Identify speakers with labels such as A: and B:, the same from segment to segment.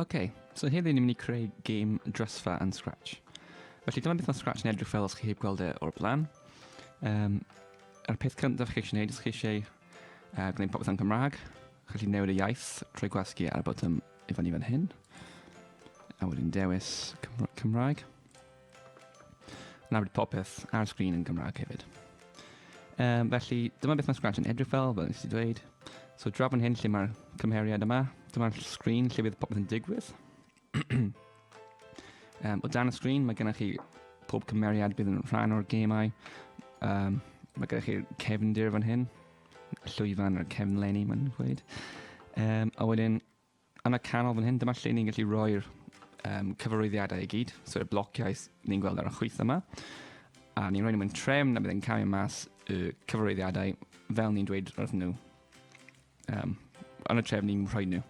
A: OK, so heddi ni'n mynd i creu game drysfa yn Scratch. Felly dyma beth mae Scratch yn edrych fel os chi heb gweld e o'r blaen. Um, yr peth cyntaf chi eisiau gwneud os chi eisiau uh, gwneud popeth yn Cymraeg, chi eisiau newid y iaith trwy gwasgu ar y botwm i fyny fan hyn. A wedyn dewis Cymraeg. Nawr bydd popeth ar y sgrin yn Gymraeg hefyd. Um, felly, dyma beth mae Scratch yn edrych fel, fel nes i dweud. So, draw fan hyn lle mae'r cymheriad yma, dyma'r sgrin lle bydd popeth yn digwydd. um, o dan y sgrin, mae gennych chi pob cymeriad bydd yn rhan o'r gemau. Um, mae gennych chi'r cefndir fan hyn, y llwyfan a'r cefnlenni, mae'n dweud. Um, a wedyn, Yn y canol fan hyn, dyma lle ni'n gallu rhoi'r um, cyfarwyddiadau i gyd, so y blociau ni'n gweld ar y chwyth yma, a ni'n rhoi nhw mewn trefn a byddai'n cael mas y cyfarwyddiadau fel ni'n dweud wrth nhw. Um, yn y trefn ni'n rhoi nhw.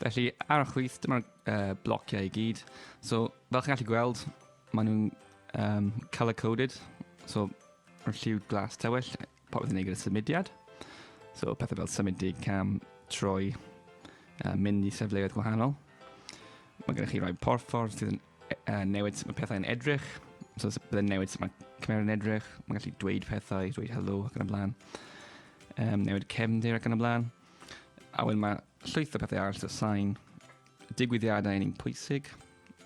A: Felly, ar y chwyth, dyma'r uh, blociau i gyd. So, fel chi'n gallu gweld, maen nhw'n um, colour-coded, so mae'r lliw glas tywyll, Popeth i wneud gyda symudiad. So pethau fel symud dig cam, troi, uh, mynd i sefleoedd gwahanol. Mae gennych chi rai porffordd sydd yn uh, newid sut mae pethau'n edrych. So byddai'n newid sut mae cymeriad yn edrych. Mae'n gallu dweud pethau, dweud helo ac yn y blaen. Um, newid cefndir ac yn y blaen. A wedyn mae llwyth o pethau arall, so sain, digwyddiadau yn un pwysig,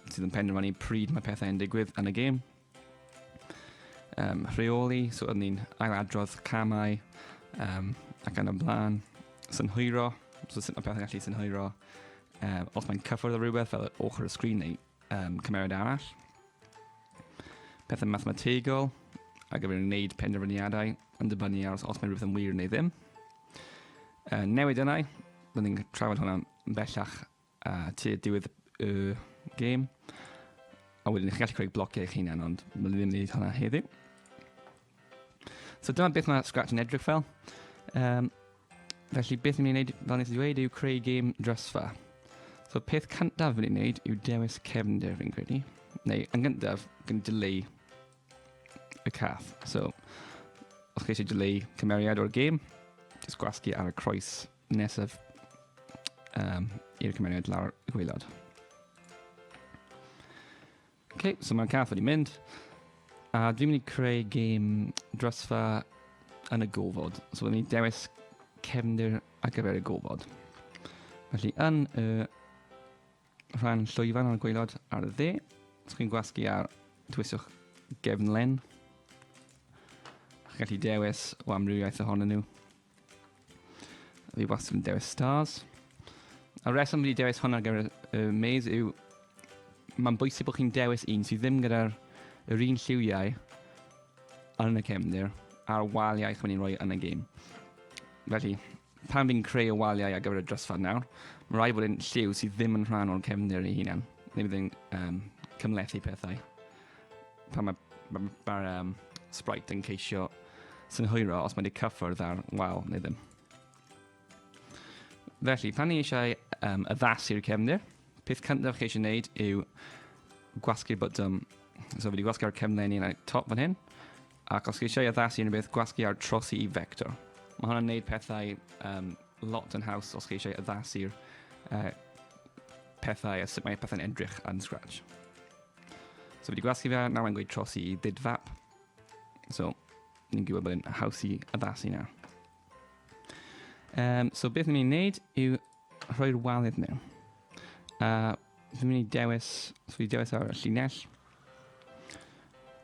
A: sydd yn penderfynu pryd mae pethau yn digwydd yn y gêm. um, rheoli, so oeddwn ni'n ailadrodd camau um, ac yn y blaen. Synhwyro, so sut mae pethau'n gallu synhwyro. Um, os mae'n cyffwrdd o rhywbeth fel ochr y sgrin neu um, cymeriad arall. Pethau mathemategol, a gyfer wneud penderfyniadau yn dibynnu ar os, os mae rhywbeth yn wir neu ddim. Uh, newid yna, byddwn ni'n trafod hwnna bellach A ti diwedd y game. A wedyn chi'n gallu creu blociau eich hunan, ond mae'n ddim wneud hwnna heddiw. So dyma beth mae Scratch yn edrych fel. Um, felly beth ni'n gwneud, fel nes i ddweud, yw creu game drysfa. So peth cyntaf ni'n gwneud yw dewis cefnder fi'n credu. Neu yn gyntaf, gan dileu y cath. So, os chi eisiau dileu cymeriad o'r game, jyst gwasgu ar y croes Nesaf um, i'r cymeriad lawr y gweilod. OK, so mae'r cath wedi mynd. A dwi'n mynd i creu gêm drosfa yn y gofod. So dwi'n mynd i dewis cefndir ar gyfer y gofod. Felly yn y rhan llwyfan o'r gweilod ar y dde, os chi'n gwasgu ar dwiswch gefnlen, chi'n gallu dewis o amrywiaeth ohonyn nhw. Fi wastad yn dewis stars. A reswm wedi dewis hwn ar gyfer y maze yw mae'n bwysig bod chi'n dewis un sydd ddim gyda'r yr un lliwiau yn y cefndir a'r waliau chi'n mynd i'n rhoi yn y gêm. Felly, pan fi'n creu y waliau ar gyfer y drysfad nawr, mae rhaid bod yn lliw sydd ddim yn rhan o'r cefndir ei hunan. Neu byddai'n um, cymlethu pethau. pan mae ma, ma, um, Sprite yn ceisio synhwyro os mae wedi cyffwrdd ar wal neu ddim. Felly, pan ni eisiau um, addasu'r cefnir, peth cyntaf chi eisiau gwneud yw gwasgu'r botwm. So, fi wedi gwasgu'r cefnau ni yn y top fan hyn, ac os chi eisiau addasu unrhyw beth, gwasgu ar trosi i vector. Mae hwnna'n gwneud pethau um, lot yn haws os chi eisiau addasu'r uh, pethau a sut mae pethau'n edrych yn Scratch. So fi wedi gwasgu fe, nawr mae'n gweud trosi i didfap. So, ni'n gwybod bod e'n haws i addasu na. Um, so beth ni'n mynd i wneud yw rhoi'r walydd mewn. Uh, fi'n mynd i dewis, so fi dewis ar y llinell.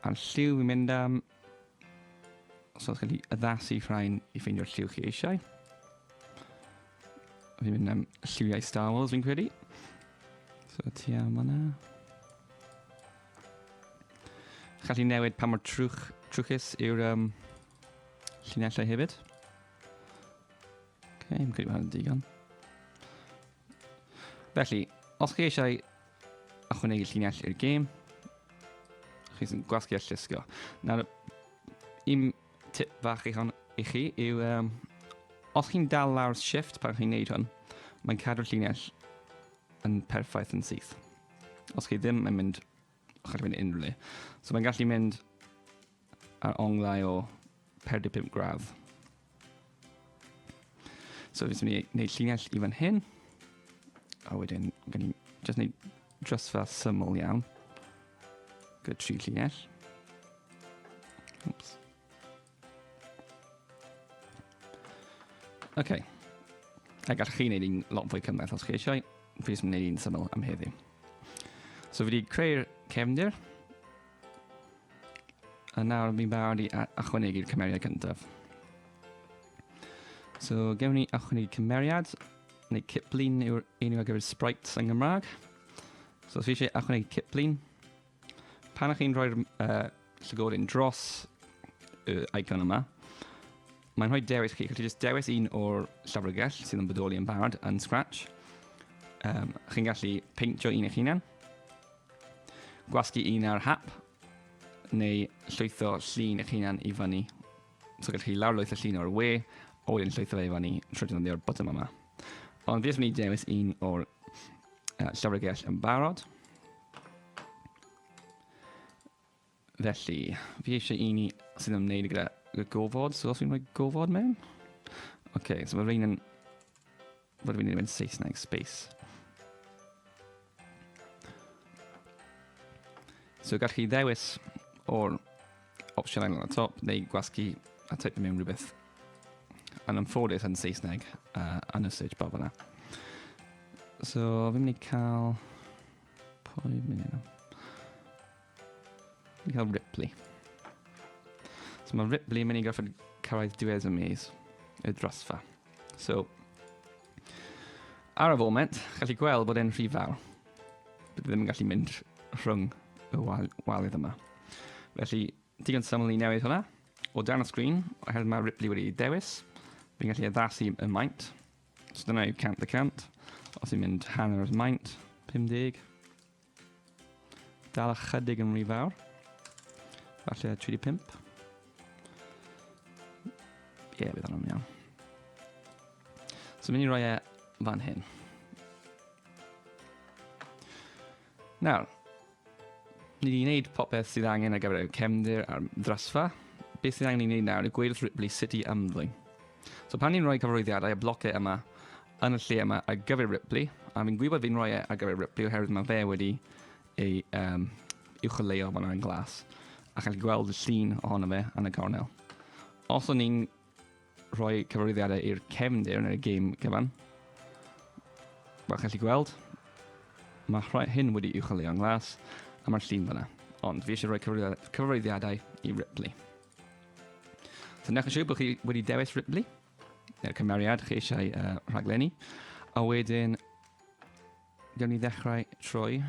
A: A'r lliw fi'n mynd am, So os gallu addasu rhain i ffeindio'r lliw chi eisiau. Fi'n mynd am lliwiau Star Wars fi'n credu. So ti am yna. Challu newid pa mor trwch, trwchus yw'r um, llinellau hefyd. Ok, yn credu bod hwnna'n digon. Felly, os chi eisiau ychwanegu llinell i'r gêm, chi sy'n gwasgu a llusgo. Nawr, un tip fach i, hon, i chi yw, um, os chi'n dal lawr shift pan chi'n neud hwn, mae'n cadw'r llinell yn perffaith yn syth. Os chi ddim yn mynd Chi'n mynd unrhyw le. So mae'n gallu mynd ar onglau o 45 gradd. So fi'n mynd i wneud llinell i fan hyn. A wedyn, gan i just wneud drysfa syml iawn. Gyda tri llinell. Oops. OK. A gallwch chi wneud un lot fwy cymhleth os chi eisiau. Fi jyst yn gwneud un syml am heddiw. So fi wedi creu'r cefndir. A nawr fi'n barod i achwanegu'r cymeriad cyntaf. So gewn ni achwanegu cymeriad, neu ciplun yw'r enw ar gyfer sprites yng Nghymraeg. So os fi eisiau achwanegu ciplun, Pan ych chi'n rhoi'r uh, llygoryn dros y uh, icon yma, mae'n rhoi dewis chi. Chi'n just dewis un o'r llyfrgell sydd yn bodoli yn barod yn Scratch. Um, chi'n gallu peintio un eich hunan, gwasgu un ar hap, neu llwytho llun eich hunan i fyny. So gallwch chi lawr lwytho llun o'r we, a wedyn llwytho fe i fyny trwy defnyddio'r botwm yma. Ond fi jyst mynd i dewis un o'r uh, llyfrgell yn barod. Felly, fi eisiau un i sy'n ymwneud gyda gofod, so os fi'n rhoi gofod mewn. Oce, okay, so mae rhain yn... Fod fi'n mynd Saesneg, space. So gallwch chi ddewis o'r Opsiwn ail y top, neu gwasgu a typio mewn rhywbeth yn ymffodus yn Saesneg uh, yn y search bar fyna. So, fi'n mynd i cael... Pwy fi'n mynd i cael? Fi'n cael Ripley. So mae Ripley yn mynd i gorfod cyrraedd diwedd y maze, y drosfa. So, Ar y foment, gallu gweld bod e'n rhy fawr. Bydd ddim yn gallu mynd rhwng y wal waledd yma. Felly, digon syml i newid hwnna. O dan y sgrin, oherwydd mae Ripley wedi dewis, fi'n gallu addasu y maint. So dyna yw 100 y 100. Os i'n mynd hanner o'r maint, 50. Dal ychydig yn rhy fawr. Falle 35. Ie, yeah, bydd hwnna'n iawn. So mynd i roi e fan hyn. Nawr, ni wedi gwneud popeth sydd angen ar gyfer y cefndir a'r ddrasfa. Beth sydd angen i wneud nawr yw gweud wrth Ripley sut i ymddwyn. So pan ni'n rhoi cyfarwyddiadau y blocau yma, yn y lle yma ar gyfer Ripley, a fi'n gwybod fi'n rhoi e ar gyfer Ripley oherwydd mae fe wedi ei um, uwcholeuo fan yn glas, ac chi'n gweld y llun ohono fe yn y cornel. Os o'n i'n rhoi cyfarwyddiadau i'r cefndir neu'r gêm gyfan, fel chi'n gallu gweld, mae rhoi hyn wedi uwcholeuo'n glas, a mae'r llun fyna. Ond fi eisiau rhoi cyfarwyddiadau i Ripley. So newch yn siŵr bod chi wedi dewis Ripley. neu'r cymeriad chi eisiau uh, rhaglenni. A wedyn, gawn ni ddechrau trwy.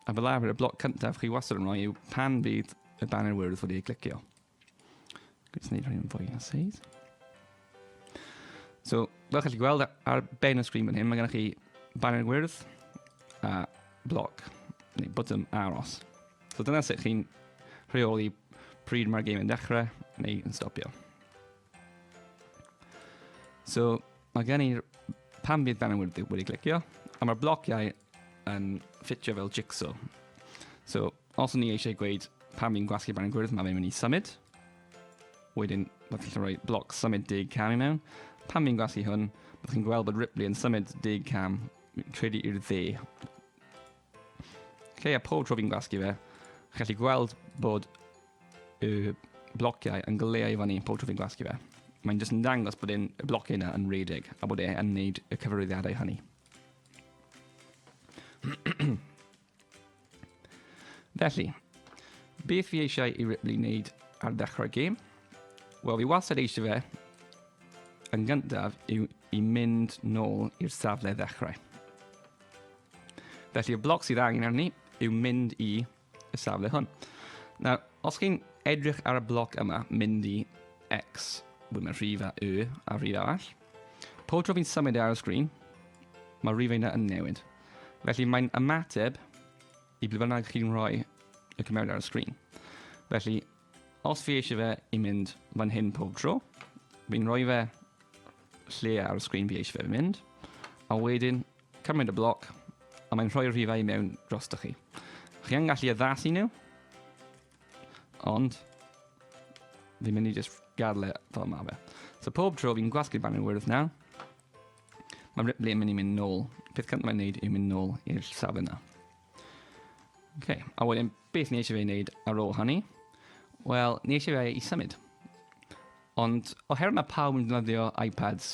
A: A fel arfer, y bloc cyntaf chi wastad yn rhoi yw pan fydd y banner wyrdd wedi ei glicio. Gwnes ni rhaid yn fwy na seis. So, fel chi'n gweld ar ben y sgrin fan hyn, mae gennych chi banner wyrdd a bloc, neu bottom aros. So dyna sut chi'n rheoli pryd mae'r game yn dechrau neu yn stopio. So mae gen i'r pan bydd dan wedi, wedi clicio, a mae'r blociau yn ffitio fel jigsaw. So os ni eisiau gweud pan fi'n gwasgu barn gwyrdd, mae fe'n mynd i symud. Wedyn, byddwch chi'n rhoi bloc symud dig cam i mewn. Pan fi'n gwasgu hwn, byddwch chi'n gweld bod Ripley yn symud dig cam, credu i'r dde. Lle a pob tro fi'n gwasgu fe, chi'n gallu gweld bod y blociau yn goleu i fyny pob tro fi'n gwasgu fe. Mae'n jyst yn dangos bod e'n y blociau yna yn redig a bod e'n neud y cyfarwyddiadau hynny. Felly, beth fi eisiau i Ripley wneud ar ddechrau'r gêm? Wel, fi wastad eisiau fe yn gyntaf i, i mynd nôl i'r safle ddechrau. Felly y bloc sydd angen arni yw mynd i y safle hwn. Nawr, os chi'n edrych ar y bloc yma, mynd i X, wedyn mae rhif a Y a rhif arall. Pob tro fi'n symud e ar y sgrin, mae rhif yna yn newid. Felly mae'n ymateb i ble bynnag chi'n rhoi y cymeriad ar y sgrin. Felly, os fi eisiau fe i mynd fan hyn pob tro, fi'n rhoi fe lle ar y sgrin fi eisiau fe mynd, a wedyn Cymryd y bloc, a mae'n rhoi'r rhifau i mewn drosto chi. Chi yn gallu addasu nhw, ond fi'n mynd i just gadle fel mae fe. So pob tro fi'n gwasgu'r banner wyrdd nawr, mae Ripley yn mynd i mynd nôl. Peth cyntaf mae'n neud yw mynd nôl i'r safle yna. Okay. A wedyn, beth ni eisiau fe wneud ar ôl hynny? Wel, ni eisiau fe i symud. Ond oherwydd mae pawb yn defnyddio iPads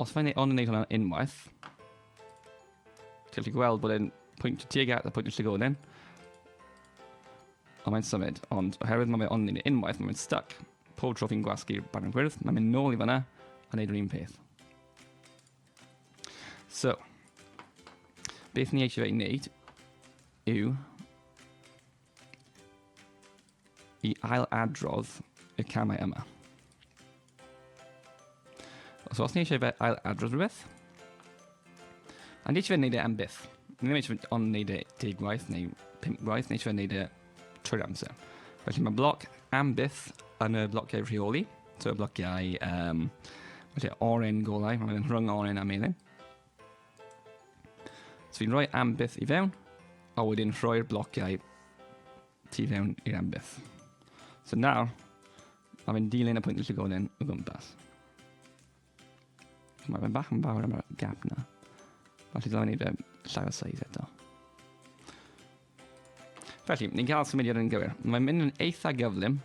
A: Os mae'n ei ond yn neud hwnna unwaith, ti'n gallu gweld bod e'n pwynt y tuag at a pwynt y llygoden. Ond mae'n symud, ond oherwydd mae fe ond yn ei unwaith, mae'n stuck. Pob tro fi'n gwasgu'r barn gwyrdd, mae'n mynd nôl i fanna a wneud yr un peth. So, beth ni eisiau ei wneud yw i ail-adrodd y camau yma. Os os ni eisiau fe ail-adrodd rhywbeth, a ni eisiau fe wneud e am byth. Ni ddim eisiau fe ond wneud e deg gwaith neu pimp gwaith, ni eisiau fe wneud e trwy'r amser. Felly mae bloc am byth yn y blociau rheoli, so y blociau um, felly oren golau, mae'n rhwng oren a melin. So fi'n rhoi ambyth i fewn, a wedyn rhoi'r blociau tu fewn i'r ambyth. So nawr, mae fe'n dilyn y pwynt llygoden o gwmpas. So mae fe'n bach yn fawr am y gap na. Felly dylen ni fe llai o size eto. Felly, ni'n cael symudiad yn gywir. Mae'n mynd yn eitha gyflym.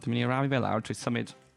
A: Dwi'n mynd i rafu fe lawr trwy symud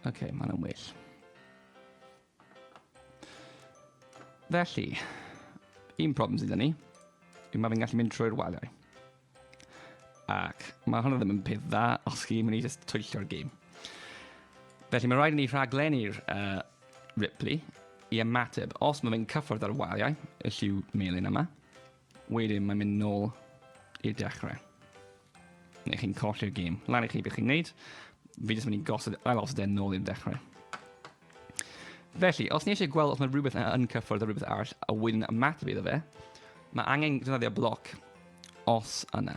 A: Oce, okay, mae hwnna'n well. Felly, un problem sydd ni, yw mae fi'n gallu mynd trwy'r waliau. Ac mae hwnna ddim yn peth dda os chi'n mynd i just twyllio'r gêm. Felly mae rhaid i ni rhaglennu'r uh, Ripley i ymateb. Os mae fe'n cyffwrdd ar waliau, y lliw melyn yma, Wedyn mae'n mynd nôl i'r dechrau. Neu chi'n colli'r gêm. Lan i chi beth chi'n neud. Fi jyst mynd i gosod ail osod e'n nôl i'r dechrau. Felly, os ni eisiau gweld os mae rhywbeth yn cyffwrdd a rhywbeth arall a wedyn ymateb iddo fe, mae angen defnyddio bloc os yna.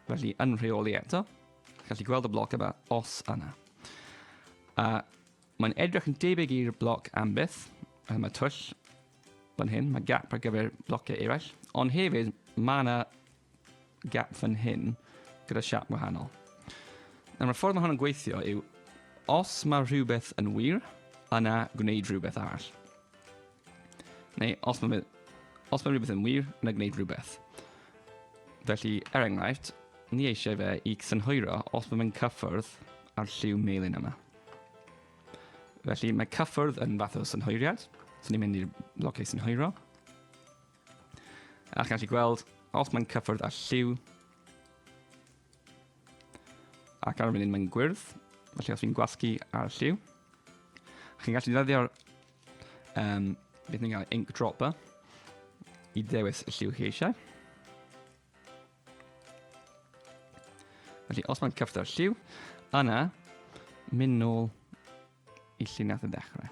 A: Felly, yn rheoli eto, gallu gweld y bloc yma os yna. A Mae'n edrych yn debyg i'r bloc am byth, a mae twll fan hyn, mae gap ar gyfer blociau eraill, ond hefyd mae yna gap fan hyn gyda siap wahanol. Nawr, y ffordd mae hwn yn gweithio yw, os mae rhywbeth yn wir, yna gwneud rhywbeth arall. Neu, os mae, os mae rhywbeth yn wir, yna gwneud rhywbeth. Felly, er enghraifft, ni eisiau fe i synhwyro os mae fe'n cyffwrdd â'r lliw melyn yma. Felly mae cyffwrdd yn fath o synhwyriad. So ni'n mynd i'r blociau synhwyro. A chi'n gallu gweld, os mae'n cyffwrdd â lliw, ac ar y funud mae'n gwyrdd, felly os fi'n gwasgu ar y lliw, chi'n gallu ddefnyddio'r um, beth ni'n gael ink dropper i ddewis y lliw chi eisiau. Felly, os mae'n cyfrda'r lliw, yna, mynd nôl i llun nath y dechrau.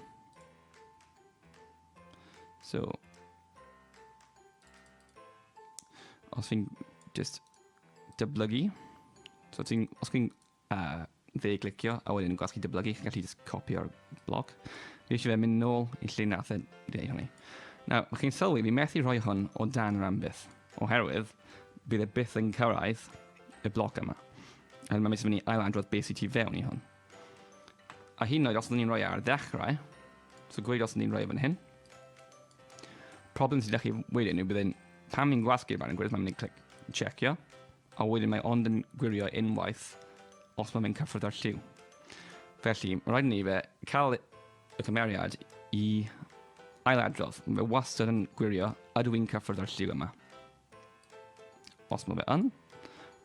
A: So, os fi'n just dyblygu, so ti'n, os fi'n A fe glicio, a wedyn yn gweld chi dyblygu, chi'n gallu just copio'r blog. Fi eisiau fe mynd nôl i lle nath e dweud hynny. Nawr, mae chi'n sylwi, fi methu rhoi hwn o dan yr ambyth, oherwydd bydd e byth yn cyrraedd y bloc yma. A mae mis mynd i ailadrodd beth sy'n ti fewn i hwn. A hyn oed, os ydyn ni'n rhoi e ar ddechrau, so gweud os ydyn ni'n rhoi e fan hyn, problem sydd â chi wedyn yw byddai'n, pan ni'n gwasgu'r barn yn gwrs, mae'n mynd i clic checio, A wedyn mae ond yn gwirio unwaith os mae fe'n cyffwrdd â'r lliw. Felly, mae rhaid ni fe cael y cymeriad i ailadrodd. Mae fe wastad yn gwirio, ydw i'n cyffwrdd â'r lliw yma? Os mae fe yn,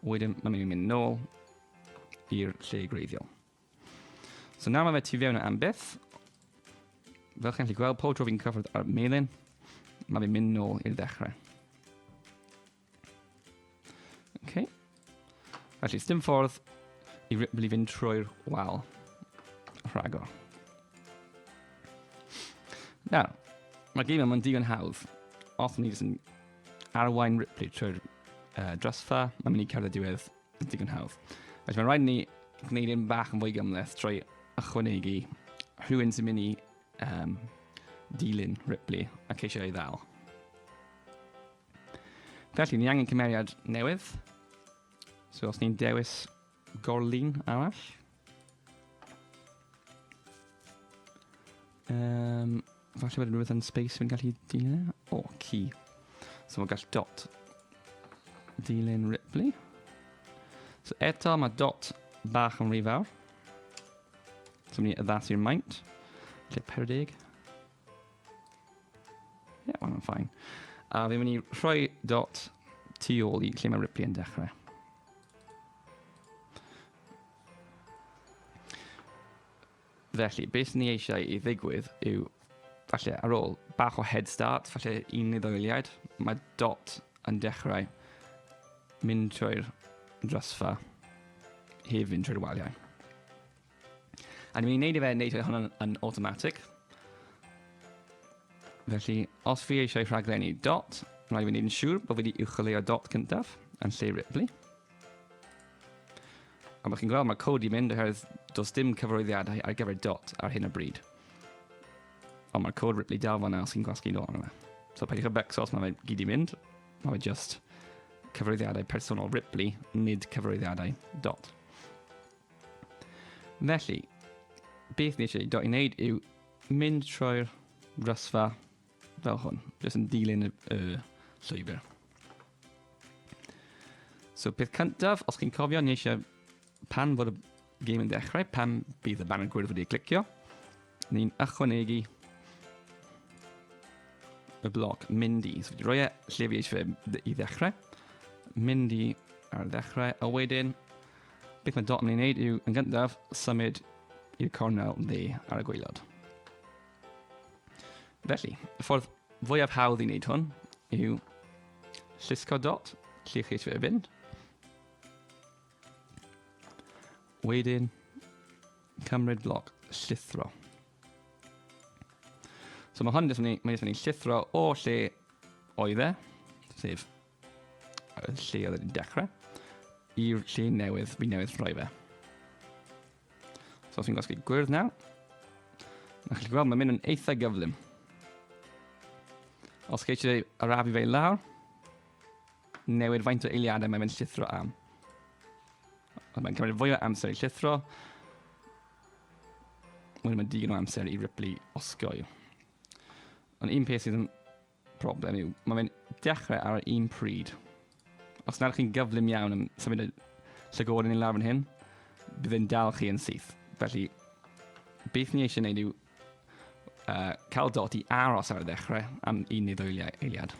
A: wedyn mae'n mynd i mynd nôl i'r lle greiddiol. So nawr mae fe tu fewn am byth. Fel chi'n gallu gweld, pob tro fi'n cyffwrdd ar melin, mae fe'n mynd nôl i'r ddechrau. Okay. Felly, dim ffordd i Ripley fynd trwy'r wal. Rhagor. Nawr, mae gym yma'n digon hawdd. Os ni jyst yn arwain Ripley trwy'r uh, drasfa, mae'n mynd i cerdded diwedd yn digon hawdd. Felly mae'n rhaid ni gwneud un bach yn fwy gymleth trwy ychwanegu rhywun sy'n mynd i um, dilyn Ripley ac eisiau ei ddal. Felly, ni angen cymeriad newydd. So os ni'n dewis gorlun arall. Um, falle bod rhywbeth yn space fi'n gallu dilyn. O, oh, key. So mae gall dot dilyn Ripley. So eto mae dot bach yn rhy fawr. So mynd i addasu'r maint. Lle 40. Ie, yeah, mae'n ffain. A fi'n mynd i rhoi dot tu ôl i lle mae Ripley yn dechrau. Felly, beth ni eisiau i ddigwydd yw, falle, ar ôl bach o head start, falle un neu ddoeliaid, mae dot yn dechrau mynd trwy'r drysfa, hef fynd trwy'r waliau. A ni'n mynd i wneud i fe wneud hwn yn, yn automatic. Felly, os fi eisiau rhaglenni dot, rhaid i fi wneud yn siŵr bod fi wedi uwcholeuo dot cyntaf yn lle Ripley. A mae chi'n gweld mae cod i mynd oherwydd does dim cyfarwyddiadau ar gyfer dot ar hyn o bryd. Ond mae'r cod Ripley dal fanna os chi'n gwasgu dot arno fe. So peidiwch y becsos, mae fe gyd i mynd. Mae fe just cyfarwyddiadau personol Ripley, nid cyfarwyddiadau dot. Felly, beth ni eisiau dod i wneud yw mynd trwy'r rhysfa fel hwn, jyst yn dilyn y, y llwybr. So peth cyntaf, os chi'n cofio, ni eisiau pan fod y game yn dechrau, pan bydd y banner gwyrdd wedi clicio, Ni'n ychwanegu y bloc Mindy. So wedi rhoi e lle fi eisiau fe i ddechrau. Mindy ar ddechrau. A wedyn, beth mae dot yn ei wneud yw, yn gyntaf, symud i'r cornel dde ar y gweilod. Felly, y ffordd fwyaf hawdd i wneud hwn yw llusgo dot lle chi eisiau fe fynd. Wedyn, Cymryd bloc llithro. So mae hwn jyst yn mynd i llithro o lle oedd e, sef lle oedd e'n dechrau, i'r lle newydd, fi newydd rhoi fe. So os fi'n gosgu gwyrdd nawr, a chi'n gweld mae'n mynd yn eitha gyflym. Os chi eisiau arafu fe lawr, newid faint o eiliadau mae'n mynd llithro am. Ond mae'n cymryd fwy o amser i llithro. Mae'n mynd digon o amser i Ripley osgoi. Ond un peth sydd yn problem yw, mae fe'n dechrau ar yr un pryd. Os nad chi'n gyflym iawn yn symud y llygod yn ei lawr yn hyn, bydd e'n dal chi yn syth. Felly, beth ni eisiau gwneud yw uh, cael dot i aros ar y ddechrau am un neu ddwy eiliad.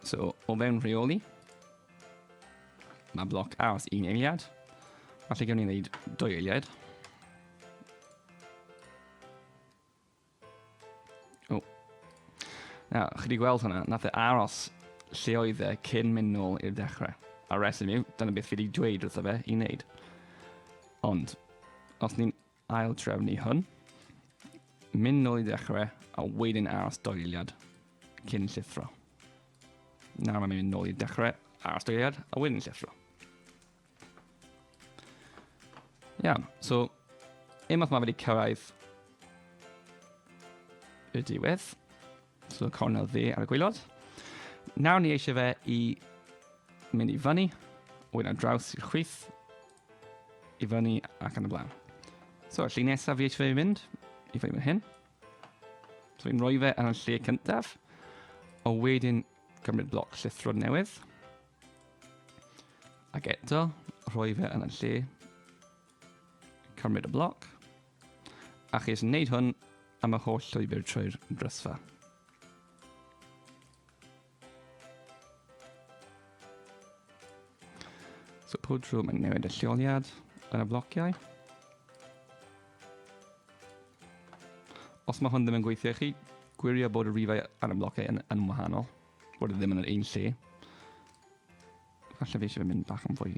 A: So, o fewn rheoli, mae bloc aros un eiliad. Felly gawn ni wneud dwy eiliad. O. Na, chi wedi gweld hwnna, nath e aros lle oedd e cyn mynd nôl i'r dechrau. A reswm yw, dyna beth fi wedi dweud wrtho fe i wneud. Ond, os ni'n aildrefnu hwn, mynd nôl i ddechrau a wedyn aros doiliad cyn llithro. Nawr mae'n mynd nôl i ddechrau, aros doiliad a wedyn llithro. Iawn, so unwaith mae wedi cyrraedd y diwedd, So cornel dde ar y gwaelod. Nawr ni eisiau fe i mynd i fyny, oed ar draws i'r chwith, i fyny ac yn y blaen. So, y lle nesaf fi eisiau fe i fynd, i fyny fan hyn. So, fi'n rhoi fe yn y lle cyntaf, o wedyn gymryd bloc llithro newydd. Ac eto, rhoi fe yn y lle Cymryd y bloc. Ac ys yn wneud hwn am y holl llwybr trwy'r drysfa. So pob trwy mae'n newid y lleoliad yn y blociau. Os mae hwn ddim yn gweithio i chi, gwirio bod y rifau ar y blociau yn, yn wahanol, bod e ddim yn yr un lle. Falle fi eisiau mynd bach yn fwy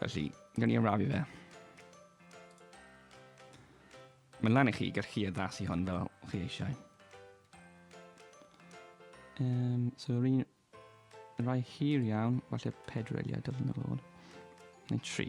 A: Felly, gan i arafu fe. Mae'n lan i chi gallu chi addasu hon fel chi eisiau. Um, so, yr un rai hir iawn, falle pedwar eiliad doedd yn ôl, neu tri.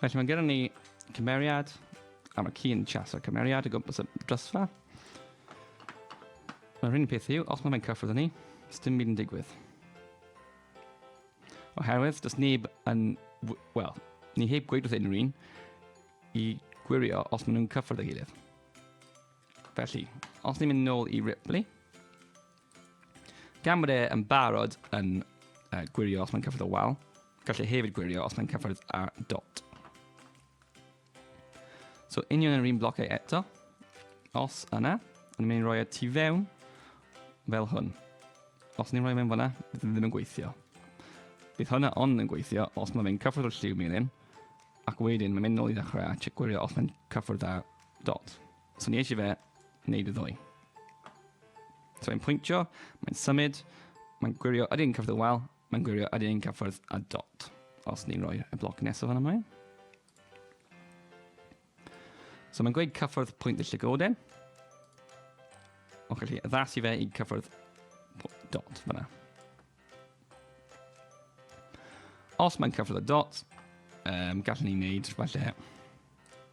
A: Felly mae gennym ni cymeriad, a mae ci'n chaso cymeriad o gwmpas y drysfa. Yr hyn peth yw, os mae fe'n cyffrodd ni, dim byd yn digwydd. Oherwydd, does neb yn... Wel, ni heb gweud wrth unrhyw un i gwirio os maen nhw'n cyffrodd ei gilydd. Felly, os ni'n mynd nôl i Ripley, Gan bod e yn barod yn uh, gwirio os mae'n cyffwrdd o wal, gallu e hefyd gwirio os mae'n cyffwrdd â dot. So union yr un blocau eto, os yna, ond ni'n mynd i roi e tu fewn fel hwn. Os ni'n rhoi fe'n fyna, bydd e ddim yn gweithio. Bydd hwnna ond yn gweithio os mae fe'n cyffwrdd o'r lliw melin, ac wedyn mae'n mynd nôl i ddechrau a gwirio os mae'n cyffwrdd â dot. So ni eisiau fe wneud y ddwy. So mae'n pwyntio, mae'n symud, mae'n gwirio yr un cyfrif wel, mae'n gwirio yr un cyfrif a dot. Os ni'n rhoi y bloc nesaf fan ymlaen. So mae'n gweud cyffwrdd pwynt y llygoden. O'ch chi addasu fe i cyffwrdd dot fyna. Os mae'n cyffwrdd y dot, um, gallwn ni wneud falle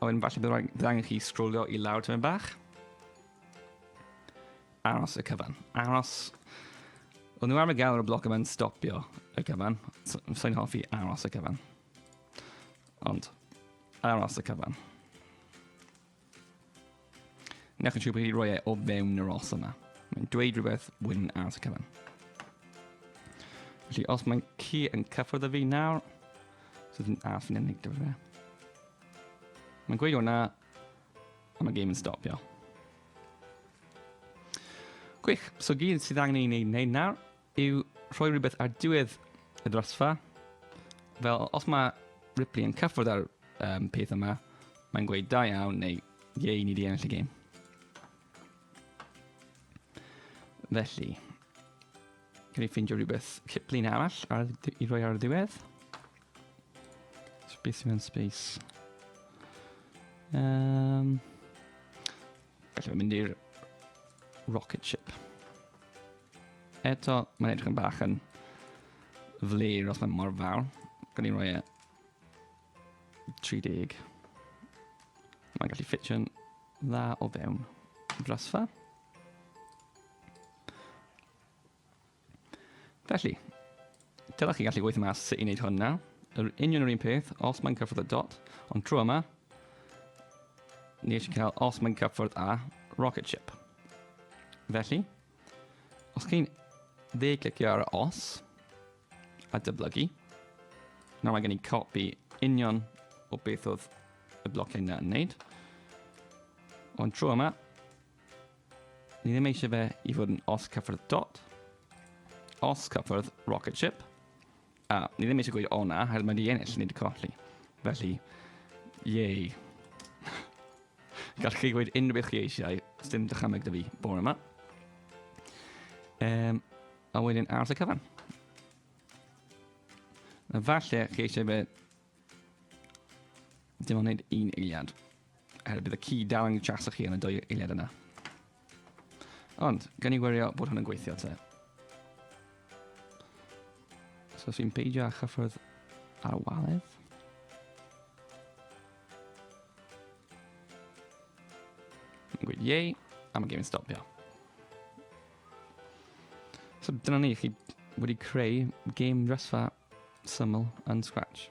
A: A wedyn falle bydd angen chi sgrolio i lawr tyma'n bach. Aros y cyfan. Aros... O'n nhw am y gael ar y bloc yma'n stopio y cyfan. Sa'n hoffi aros y cyfan. Ond, aros y cyfan. Newch yn siŵr bod chi roi e o fewn yr os yma. Mae'n dweud rhywbeth wyn ar y cyfan. Felly, os mae'n ci yn cyffwrdd y fi nawr, so dwi'n as yn unig dyfa fe. Mae'n gweud hwnna, a mae game yn stopio. Gwych, so gyd sydd angen ei wneud nawr yw rhoi rhywbeth ar diwedd y drosfa. Fel, os mae Ripley yn cyffwrdd ar um, peth yma, mae'n gweud da iawn neu ie i ni di ennill y gêm. Felly, Can i ffeindio rhywbeth cliplin arall ar, i roi ar y diwedd? Space mewn space. Um, Felly mynd i'r rocket ship. Eto, mae'n edrych yn bach yn flir os mae'n mor fawr. Gan i'n rhoi e 30. Mae'n gallu ffitio'n dda o fewn brasfa. Felly, dylech chi gallu gweithio mas sut i wneud hwn nawr. Yr union yr un peth, os mae'n cyffwrdd y dot, ond trwy yma, ni eisiau cael os mae'n cyffwrdd â rocket ship. Felly, os chi'n dde clicio ar y os a dyblygu, nawr mae gen i copi union o beth oedd y blociau yna yn wneud. Ond trwy yma, Ni ddim eisiau fe i fod yn os cyffyrdd dot, os cyffyrdd rocket ship, a ni ddim eisiau gweud o na, hel mae di ennill, ni di colli. Felly, yay. Gallwch chi gweud unrhyw beth chi eisiau, dim dychymeg dy fi bore yma. Um, a wedyn aros y cyfan. Falle chi eisiau fe dim ond wneud un eiliad. Er bydd y ci dal yn jaso chi yn y dwy eiliad yna. Ond, gan i wirio bod hwn yn gweithio te. So os fi'n peidio â chyffrodd ar y waledd. Mae'n gweud yei, a mae gêm yn stopio. So dyna ni, chi wedi creu game dresfa syml yn Scratch.